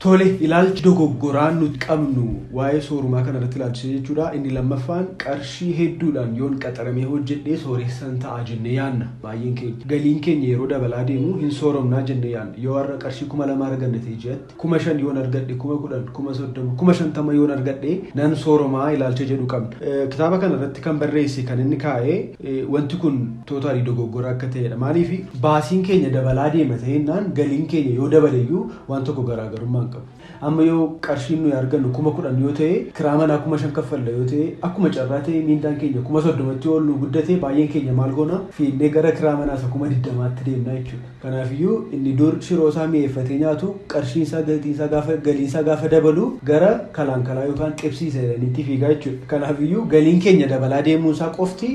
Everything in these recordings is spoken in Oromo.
Tole ilaalchi dogoggoraa nuti qabnu waa'ee soorumaa kana irratti ilaalchisee jechuudha. Inni lammaffaan qarshii hedduudhaan yoon qaxaramee hojjedhee sooressan ta'a jennee yaadna baay'een keenya. Galiin keenya yeroo dabalaa deemu hin sooromnaa jennee yaadna. Yoo har'a qarshii kuma lama arganne ta'e ji'atti Kuma shan yoon argadhe, kuma kudhan, kuma soddoma, kuma shantama yoon argadhe nan sooromaa ilaalcha jedhu qabna. Kitaaba kana irratti kan barreesse kan inni kaa'e wanti kun tootaalii dogoggora akka ta'edha. Maaliif baasiin keenya dabalaa deema ta'ennaan galiin keenya yoo dabaleyyuu waan tokko garaagarummaa hin qabu. Amma yoo qarshiin nuyi argannu kuma kudhan yoo ta'e kiraa manaa kuma shan kaffalla yoo ta'e akkuma carraa ta'e miindaan keenya kuma soddomatti yoo ol nu guddate baay'een keenya maal goona fiinnee gara kiraa manaa isa kuma digdamaatti deemna jechuudha. Kanaafiyyuu inni dur shiroo isaa mi'eeffatee nyaatu qarshiin isaa gatiin isaa gaafa galiin isaa gaafa dabalu gara kalaankalaa yookaan qibsiisa jedhaniitti fiigaa jechuudha. Kanaafiyyuu galiin keenya dabalaa deemuun isaa qofti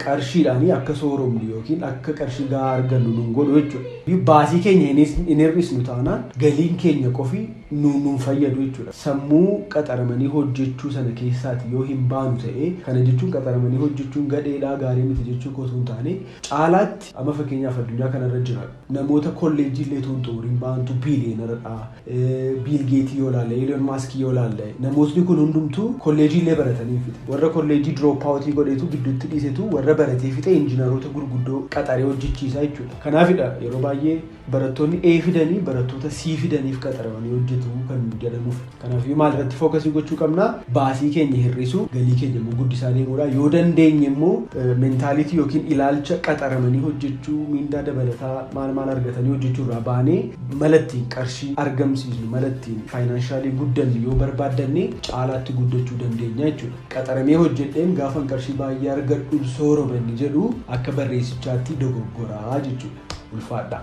qarshiidhaanii akka sooromnu yookiin akka qarshii gahaa argannu nun godhu jechuudha. Baasii keenya hin hir'isnu taanaan galiin keenya qofi nu nun fayyadu jechuudha. Sammuu qaxaramanii hojjechuu sana keessaati yoo hin baanu ta'ee kana jechuun qaxaramanii hojjechuun gadheedhaa gaarii miti jechuu koo osoo hin taane caalaatti Amma fakkeenyaaf addunyaa kanarra jira namoota kolleejjii illee tuun xumuriin ba'antu biiliyeenaradha. Biil Geetii yoo ilaalle, Elon Maaskii yoo ilaalle namootni kun hundumtuu kolleejjii illee baratanii hin fixe. Warra kolleejjii dirooppawutii godheetu gidduutti dhiisetu warra baratee fixe injinaroota gurguddoo qaxaree hojjechiisa jechuudha. Kanaafidha yeroo baay'ee Barattoonni A fidanii barattoota C fidaniif qaxaramanii hojjetu kan jedhamuuf. Kanaafuu maal irratti fookasii gochuu qabna? Baasii keenya hir'isuu, galii keenya immoo guddisaa deemuudha. Yoo dandeenye immoo mentaalitii yookiin ilaalcha qaxaramanii hojjechuu, miindaa dabalataa maal maal argatanii hojjechuu irraa baanee mala ittiin qarshii argamsiisnu, mala ittiin faayinaanshaali guddannu yoo barbaaddanne caalaatti guddachuu dandeenya jechuudha. Qaxaramee hojjedheen gaafan qarshii baay'ee argadhu sooroba inni jedhu akka barreessichaatti dogoggoraa jechuudha. Ulfaadhaa!